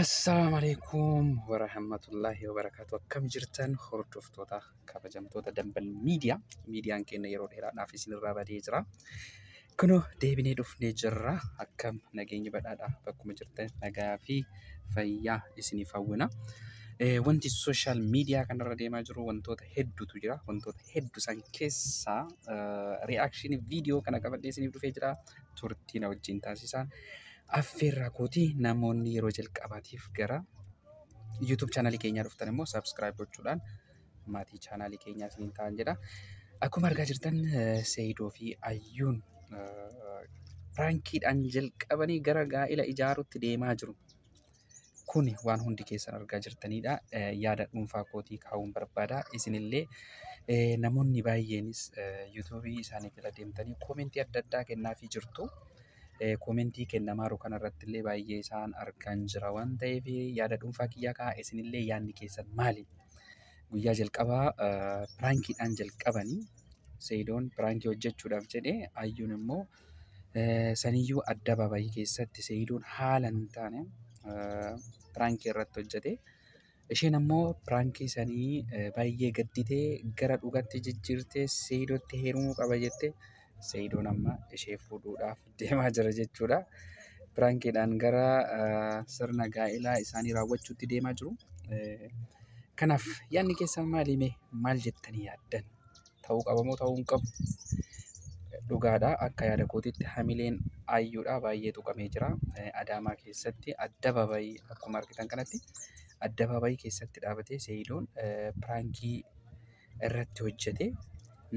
Assalaamu alaikum warahmatullahi wabarakatuh. Akkam jirtan hordoftoota kabajamtoota Dambal Miidiyaa. Miidiyaan keenya yeroo dheeraadhaaf isinirraa badee jira. Kunoo deebinee dhufnee jirra. Akkam nageenyi badhaadha bakkuma jirtan nagaa fi fayyaa isiniif hawwina. Eh, Wanti sooshaal miidiyaa kanarra deemaa jiru wantoota hedduutu jira. Wantoota hedduu san keessaa ri'aakshinii viidiyoo kana qabadhee isiniif dhufee jira. Turtii na wajjin taasisaan. affeerraa kooti namoonni yeroo jalqabaatiif gara YouTube chaanalii keenyaa dhuftan immoo subscribe gochuudhaan maatii chaanalii keenyaa isiniin ta'an jedha. Akkuma argaa jirtan eh, Seeyidoo fi Ayyuun eh, piraankiidhaan jalqabanii gara gaa'ila ijaaruutti deemaa jiru. Kuni waan hundi keessan argaa jirtanidha. Eh, Yaada dhuunfaa kootii kaa'uun barbaada. Isinillee eh, namoonni baay'eenis eh, yuutuubii isaanii jala deemtanii koomentii adda addaa kennaafii jirtu. Eh, Koomentii kennamaaru kanarratti illee baay'ee isaan argaan jira waan ta'eef yaada dhuunfaa kiyyaa ka'a. Isinillee yaadni keessan maali? Guyyaa jalqabaa eh, piraankiidhaan jalqabanii Seeyidoon piraankii hojjechuudhaaf jedhee Ayyuun immoo Saniyyuu addabaabayii keessatti Seeyidoon haala hin taane piraankii irratti hojjete. Isheen ammoo piraankii sanii baay'ee gadditee gara dhugaatti jijjiirtee Seeyidootti heerumuu qaba jette. Seeyidoon amma ishee fuudhuudhaaf deemaa jira jechuudha. Piraankiidhaan gara sirna gaa'ilaa isaanii raawwachuutti deemaa jiru. Kanaaf yaadni keessan maali mee maal jettanii yaaddan? ta'uu qabamoo ta'uu hin qabu dhugaadha akka yaada kootiitti hamileen ayyuudha baay'ee tuqamee jira adaamaa keessatti addabaabayii akkuma argitan kanatti addabaabayii keessatti dhaabatee seeyidoon piraankii irratti hojjete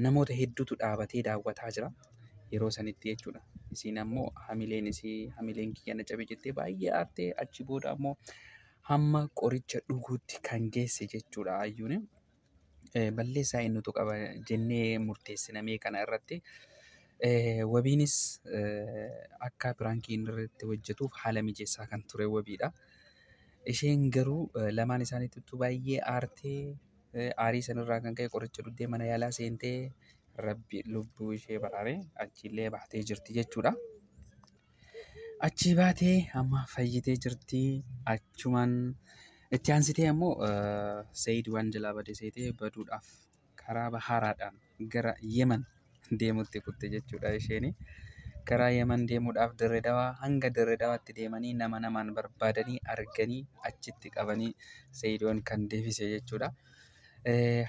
namoota hedduutu dhaabatee daawwataa jira yeroo sanitti jechuudha. Isiin ammoo hamileen isii hamileen kiyya na cabe jettee baay'ee aartee achi booda ammoo hamma qoricha dhuguutti kan geesse jechuudha ayyuun. balleessaa eenyutu qaba jennee murteessinamee kana irratti wabiinis akka piraankii inni irratti hojjetuuf haala mijeessaa kan ture wabiidha. Isheen garuu lamaan isaaniittu baay'ee aartee aarii sanirraa kan ka'e qoricha dhugdee mana yaalaa seentee rabbi lubbuu ishee baraaree achiillee baatee jirti jechuudha. Achii baatee amma fayyitee jirti achumaan itti aansitee ammoo Seeyid waan jalaa bade seetee baduudhaaf karaa bahaaraadhaan gara Yemen deemutti kutte jechuudha isheeni. Karaa Yemen deemuudhaaf dirree dawaa hanga dirree dawaatti deemanii nama namaan barbaadanii arganii achitti qabanii Seeyidoon kan deebise jechuudha.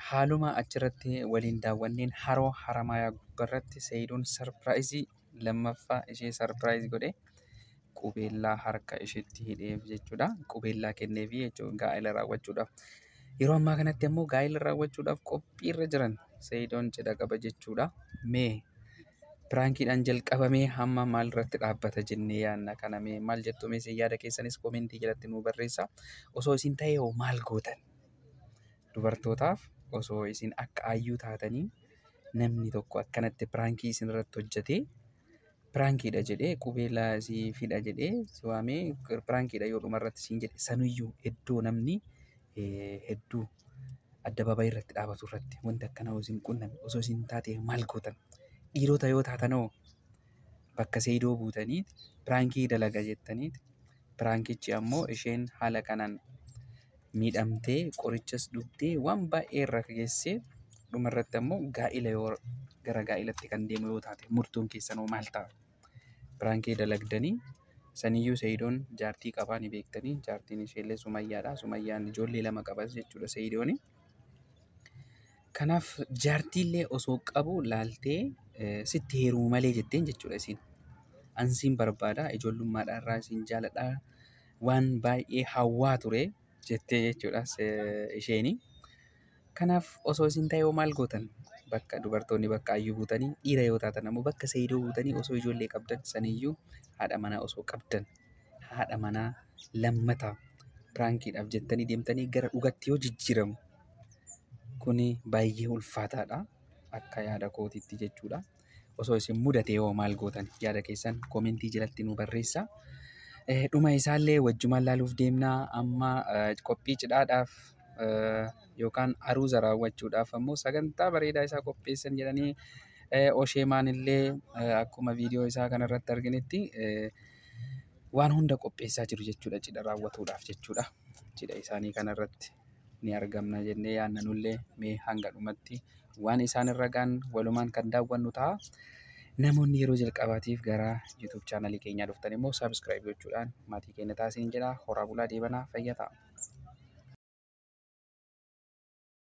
Haaluma achirratti waliin daawwanneen haroo haramaayaa gubbarratti Seeyidoon sarpiraayizii lammaffaa ishee sarpiraayiz godhe qubeellaa harka isheetti hidheef jechuudha. Qubeellaa kenneefi jechuudha gaa'ela raawwachuudhaaf. Yeroo ammaa kanatti ammoo gaa'ela raawwachuudhaaf qophiirra jiran Sayidoon cidha qaba jechuudha. Mee piraankiidhaan jalqabamee hamma maalirratti dhaabbata jennee yaadna kana mee maal jettu mee isin yaada keessanis koomentii jalatti nuu barreessaa. Osoo isin ta'ee hoo maal gootan? Dubartootaaf osoo isin akka Ayyuu taatanii namni tokko akkanatti piraankii isin irratti hojjetee piraankiidha jedhee qubeelaa si fidha jedhee si waamee piraankiidha yoo dhuma irratti siin jedhe sanuyyuu iddoo namni eh, hedduu addabaabayii irratti dhaabatu irratti wanti akkana osoo isin qunname osoo isin taate maal gootan dhiirota yoo taatanoo bakka seeyidoo buutaniit piraankii dalaga jettaniit Piraankichi ammoo isheen haala kanaan miidhamtee qorichas dhugdee waan baay'ee irra geessee dhumarratti ammoo gaa'ila yoo gara gaa'ilatti kan deemu yoo taate murtoon keessanoo maal ta'a? Piraankii dalagdanii saniyyuu Seeyidoon jaartii qabaa ni beektanii jaartiin isheellee Sumayyaadha. Sumayyaan ijoollee lama qabas jechuudha Seeyidooni. Kanaaf jaartiillee osoo qabu laaltee sitti heerumu malee jetteen jechuudha isiin. Ansiin barbaada ijoollummaadhaa irraa isiin jaaladha waan baay'ee hawwaa ture jettee jechuudha isheeni. Kanaaf osoo isin ta'ee maal gootan? Bakka dubartoonni bakka ayyuu buutanii dhiira yoo taatan ammoo bakka seeyidoo buutanii osoo ijoollee qabdan saniyyuu haadha manaa osoo qabdan haadha manaa lammata piraankiidhaaf jettanii deemtanii gara dhugatti yoo jijjiiramu Kuni baay'ee ulfaataadha. Akka yaada kootiitti jechuudha. Osoo isin mudatee hoo maal gootan? Yaada keessan komentii jalatti nu barreessaa. Eh, Dhuma isaallee wajjumaan laaluuf deemnaa. Amma eh, qophii cidhaadhaaf eh, yookaan aruuza raawwachuudhaaf ammoo sagantaa bareedaa isaa qopheessan jedhanii eh, Osheemaan illee eh, akkuma viidiyoo isaa kanarratti arginetti eh, waan hunda qopheessaa jiru jechuudha cidha raawwatuudhaaf jechuudha. Cidha isaanii kanarratti. ni argamna jennee yaadna nullee mee hanga dhumatti waan isaan irra ga'an walumaan kan daawwannu ta'a. Namoonni yeroo jalqabaatiif gara YouTube chaanalii keenyaa dhuftan immoo subscribe gochuudhaan maatii keenya taasiin jedha. Horaa bulaa deebanaa fayyaa ta'a.